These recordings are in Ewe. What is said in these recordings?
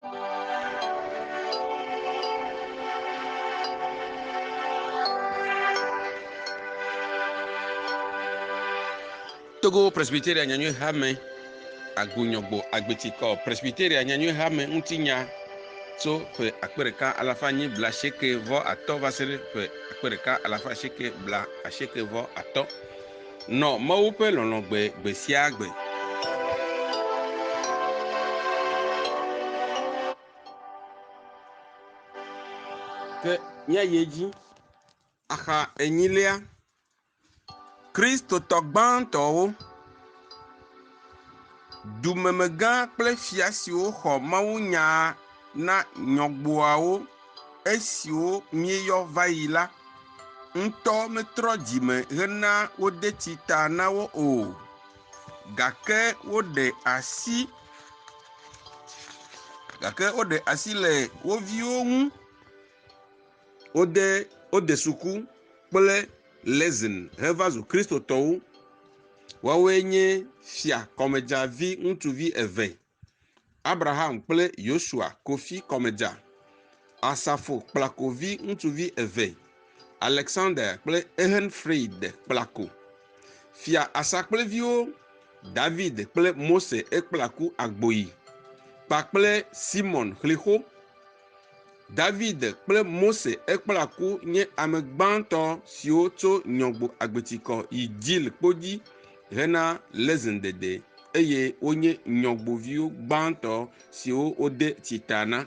Togo Presbyteria Nyanyui Hame Agunyɔgbo Agbeti kɔ Presbyteria Nyanyui Hame ŋutinya tso ƒe akpe ɖeka alafa nyi bla asieke vɔ atɔ va se ɖe ƒe akpe ɖeka alafa asieke bla asieke vɔ atɔ. Nɔ Mawu ƒe lɔlɔ̃ gbe gbe sia gbe. Ke míayi edzi. Axa enyilia, Kristotɔ gbãtɔwo. Dumemegã kple fia siwo xɔ mawunyaa na nyɔgboawo esiwo míeyɔ va yi la ŋutɔ metrɔ dzi me hena wode tsi ta na wo o, gake woɖe asi, gake woɖe asi le wo viwo ŋu. Wode wode suku kple Lezin heva zu Kristotɔwo. Woawoe nye fia kɔmedza vi ŋutsuvi eve, Abraham kple Yosua Kofi kɔmedza, Asafo Kplako vi ŋutsuvi eve, Alexander kple Ehrenfried Kplako. Fia Asa kple viwo, David kple Mose Ekplaku Agboyi kpakple Simon Xlixo. David kple Mose ekpla ku nye ame gbãtɔ siwo tso Nyɔgbo Agbetikɔ yi Jil kpo dzi hena lezen dede eye wonye nyɔgboviwo gbãtɔ siwo wode tsita na.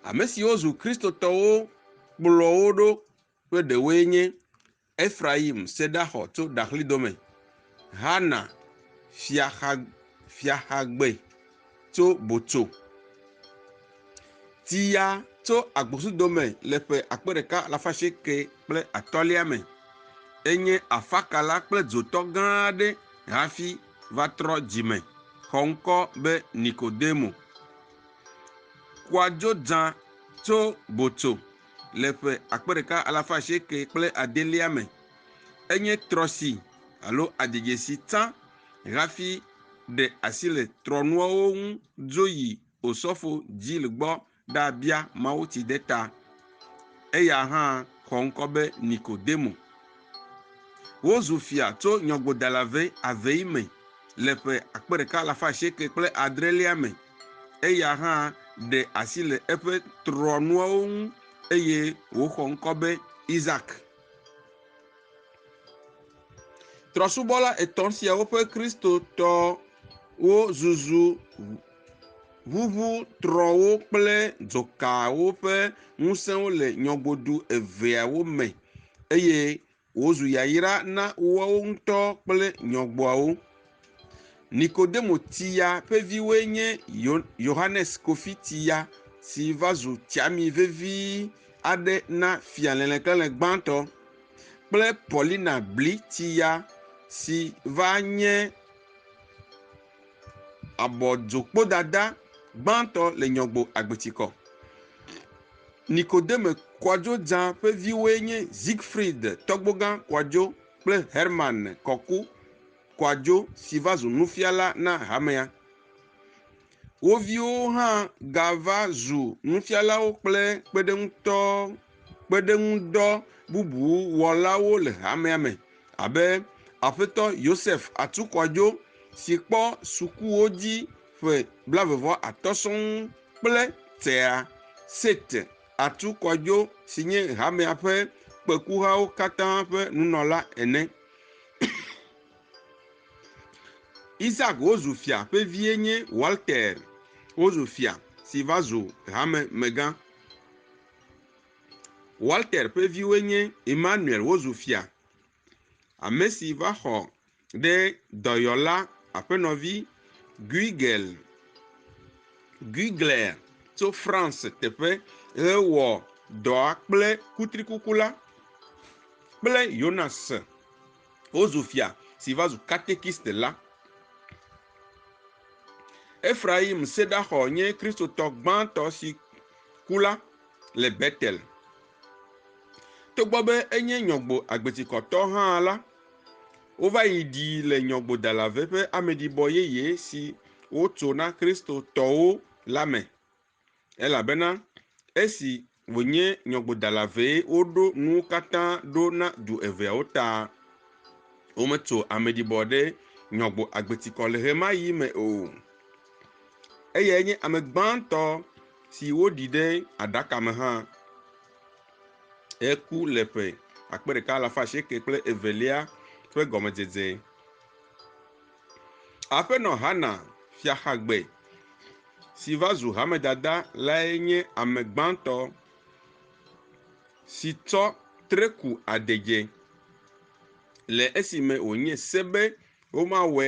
Ame siwo zu Kristotɔwo kplɔ wo ɖo ƒe ɖewoe nye Efrayim sedaxɔ tso Daxli dome, Hana fiaxa fiaxagbe tso Botso, ti ya tso agbosu dome le ƒe akpe ɖeka alafa asieke kple atɔ̃lia me. Enye afakala kple dzotɔ gã aɖe hafi va trɔ dzime xɔ ŋkɔ be Nikodemo. Kua dzo dzã tso Botso le ƒe akpe ɖeka alafa asieke kple adelia me. Enye trɔsi alo adzedze si tsã hafi ɖe asi le trɔnuawo ŋu dzo yi Osɔfo Gill gbɔ ɖabia mawutsideta. Eya hã xɔ ŋkɔ be Nikodemo. Wozu fia tso nyɔgodala ve avei me le ƒe akpe ɖeka alafa asieke kple adrelia me. Eya hã ɖe asi le eƒe trɔ̃nuawo ŋu eye wòxɔ ŋkɔ be Isak. Trɔ̃subɔla etɔ̃ siawo ƒe Kristotɔwo zuzu ʋuʋu trɔ̃wo kple dzokawo ƒe ŋusẽwo le nyɔgodu eveawo me eye wòzu yayra na woawo ŋutɔ kple nyɔgboawo. Nikodemo Tsiya ƒe viwoe nye Yohanes Kofi Tsiya si va zu tsiami vevi aɖe na Fia Lɛlɛklɛlɛ Gbãtɔ kple Paulina Bli Tsiya si va nye Abɔdzokpodada gbãtɔ le nyɔgbo agbetsikɔ. Nikodeme Kwadjo Dzã ƒe viwoe nye Siegfried Tɔgbogã Kwadjo kple Hermann Kɔku Kwadjo si va zu nufiala na hamea. Wo viwo hã gava zu nufialawo kple kpeɖeŋutɔ kpeɖeŋudɔ bubu wɔlawo le hamea me. Abe Aƒetɔ Yosef Atukwajo si kpɔ sukuwo dzi ƒe blaeve vɔ atɔ̃ sɔŋ kple Tea Seth Atukwajo si nye hamea ƒe kpekuhawo katã ƒe nunɔla ene. Isaac wozu fia ƒe vie nye Walter wozu fia si va zu hamemegã. Walter ƒe viwoe nye Emmanuel wozu fia, ame si va xɔ ɖe dɔyɔla aƒenɔvi Guigel Guigler tso France teƒe hewɔ dɔa kple kutrikuku la kple Jonas wozu fia si va zu katekist la. Efraim Sedaxɔ nye Kristotɔ gbãtɔ si ku la. le Betel. Togbɔ be enye nyɔgbo agbetikɔtɔ hã la, wova yi ɖii le nyɔgbodalave ƒe ameɖibɔ yeye si wotso na Kristotɔwo la me, elabena esi wònye nyɔgbodalavee woɖo nuwo katã ɖo na du eveawo ta. Wometso ameɖibɔ ɖe nyɔgbo agbetikɔ le ɣemaɣi me o. Eyae nye ame gbãtɔ si woɖi ɖe aɖaka me hã heku le ƒe akpe ɖeka alafa asieke kple evelia ƒe gɔmedzedze. Aƒenɔ Hana Fiaxagbe si va zu hamedada lae nye ame gbãtɔ si tsɔ tre ku adegbe le esime wònye se be womawɔe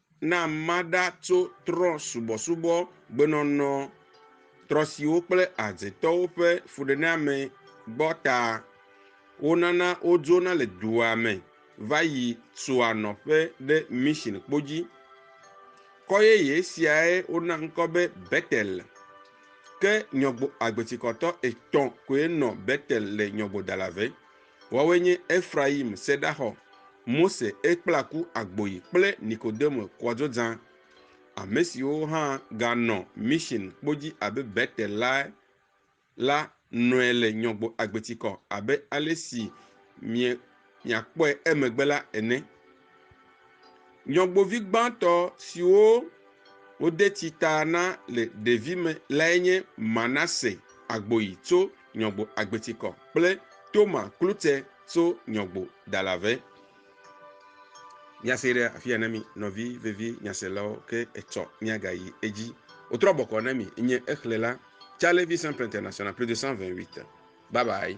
na maɖa tso trɔ̃subɔsubɔ, gbenɔnɔ, trɔ̃siwo kple azetɔwo ƒe fuɖeneame gbɔ ta. Wonana wodzona le dua me va yi sua nɔƒe ɖe Mission Kpo dzi. Kɔ yeye siae wona ŋkɔ be Betel. Ke nyɔgbo agbetikɔtɔ etɔ̃ koe nɔ Betel le Nyɔgbodalave. Woawoe nye Efrayim seɖaxɔ, Mose ekplaku agboyi kple Nikodemo kɔdzodzã, ame siwo hã ganɔ mission kpo dzi abe Betel lae la nɔe le nyɔgbo agbetikɔ abe ale si miakpɔe emegbe la ene. Nyɔgbovi gbãtɔ siwo wode tsi ta na le ɖevime lae nye Manase Agboyi tso Nyɔgbo Agbetikɔ kple Toma Klute tso Nyɔgbo Dalave. Míase ɖe afi ya na mi nɔvi vevi nyaselawo ke etsɔ míagayi edzi. Wotrɔ bɔkɔ na mi nye exléla Charles Vincent Prêtre National plus de 128. Bye bye.